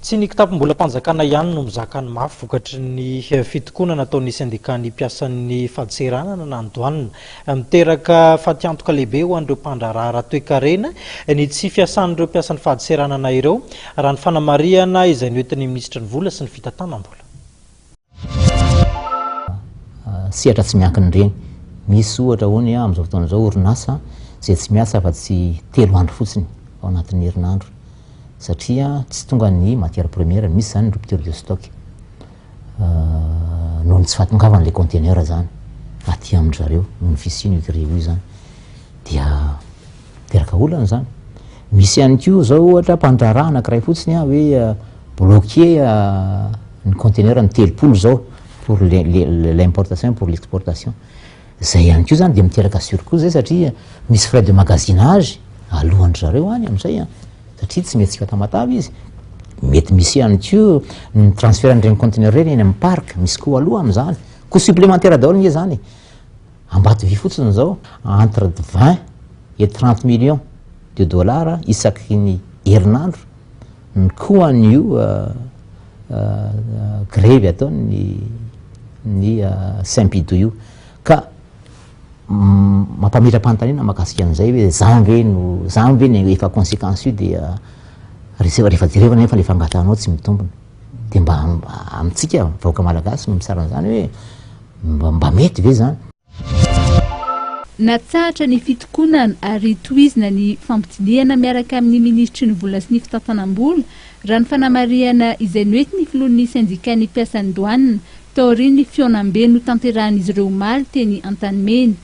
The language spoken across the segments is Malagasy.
Tsy ny kitapom-bolam-panjakana ihany no mizaka ny mafy vokatry ny fitokonana ataon'ny sendikan'ny mpiasan'ny fadseranana na ny Douane. Miteraka fatiantoka lehibe ho an'ireo mpandraharaha ara-toekarena ny tsy fiasan'ireo mpiasan'ny fadseranana ireo, raha ny fanamarihana izay noentin'ny minisitry ny Vola sy ny fitantanam-bola. sehatra tsy miankin'ireny. Misy ohatra hoe ny amin'izao fotoana izao orinasa izay tsy miasa afa-tsy telo andro fotsiny ao anatin'ny herinandro satria tsy tonga ny matière première, misy izany rupture de stock euh, noho ny tsy fahatongavan'ilay conteneur izany aty amin-dry zareo noho ny fisian'io grille io izany dia miteraka olana izany misy ihany koa zao ohatra mpandraharaha anakiray fotsiny a hoe euh, bloqué euh, ny conteneur ny telopolo zao pour l'importation pour l'exportation zay ihany ko zany de miteraka surcou zay satria misy frais de magasinage alohan'dry zareo any am'izay a satria tsy mety tsika tamatavy izy mety misy ihany ko ny transfert an'ireny conteneur reny eny am'y parc misy koa aloha am'zany ko supplémentaire daholo nge zany Ambatovy fotsiny izao entre vingt et trente millions de dollars isaky ny herinandro ny koan'io grevy ataon'ny ny Simpido io. Ka mampametra-panontaniana ny mahakasika an'izay hoe izany ve no, izany ve no efa consequence-io dia rehefa jerevana anefa ilay fangatahanao tsy mitombina. Dia mba amintsika vahoaka malagasy no misarona izany hoe mba mety ve izany? Natsahatra ny fitokonana ary tohizina ny fampidinihana miaraka amin'ny minisitry ny vola sy ny fitantanam-bola, raha ny fanamarihana izay noentin'ny filohan'ny sendikàn'ny mpiasan'ny doanina, taorian'ny fihaonambe notanterahin'izy ireo omaly teny Antanimena.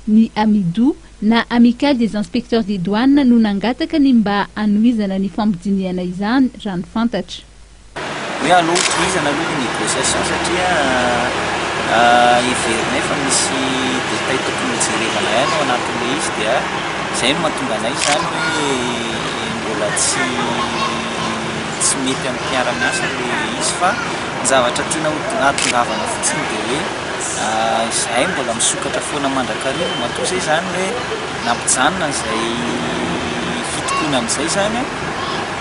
Ny Amido na Amicale des Inspecteurs des Douanes no nangataka ny mba hanohizana ny fampidinihana izany, raha ny fantatra. Hoe alou tohizana aloha ny négociation satria heverinay fa misy détails tokony hojerevana ihany ao anatin'ilay izy dia izay no mahatonga anay izany hoe mbola tsy tsy mety amin'ny mpiara-miasa ilay izy fa ny zavatra tiana ho hahatongavana fotsiny dia hoe Izahay mbola misokatra foana mandrakariva, matoa izay izany hoe nampijanona an'izay fitokoana amin'izay izany an,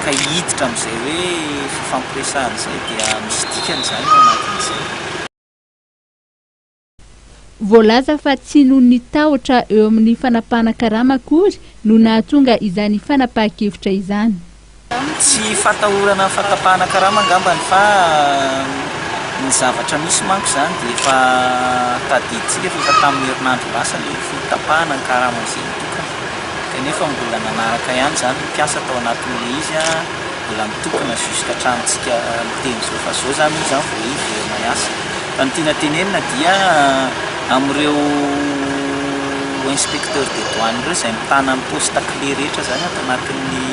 ka hiditra amin'izay hoe fifampiresahana izay dia misy dikany izany ao anatin'izay. Voalaza fa tsy noho ny tahotra eo amin'ny fanapahana karama akory no nahatonga izany fanapahan-kevitra izany. Tsy fatahorana fatapahana karama angambany fa ny zavatra misy manko izany dia efa tadidintsika fa efa tamin'ny herinandro lasa ilay fitapahana ny karama izay nitokana kanefa mbola nanaraka ihany izany ny mpiasa tao anatin'ilay izy mbola mitokana jusque hatramintsika miteny izao fa izao izany moa izany vao hiverina hiasa fa ny tiana tenenina dia amin'ireo inspecteur des douanes ireo izay mitana ny poste clé rehetra izany ato anatin'ny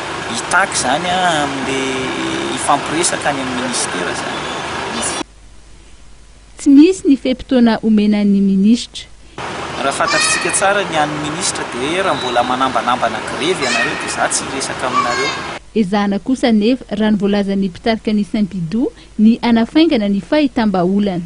Hitaky izany amin'ilay hifampiresaka any amin'ny minisitera izany. Tsy misy ny fe-potoana omena ny minisitra. Raha fantatritsika tsara ny an'ny minisitra dia hoe raha mbola manambanambana grevy ianareo dia izaho tsy hiresaka aminareo. Ezahana kosa anefa, raha ny voalazan'ny mpitarika ny Sympidou, ny hanafaingana ny fahitam-baholana.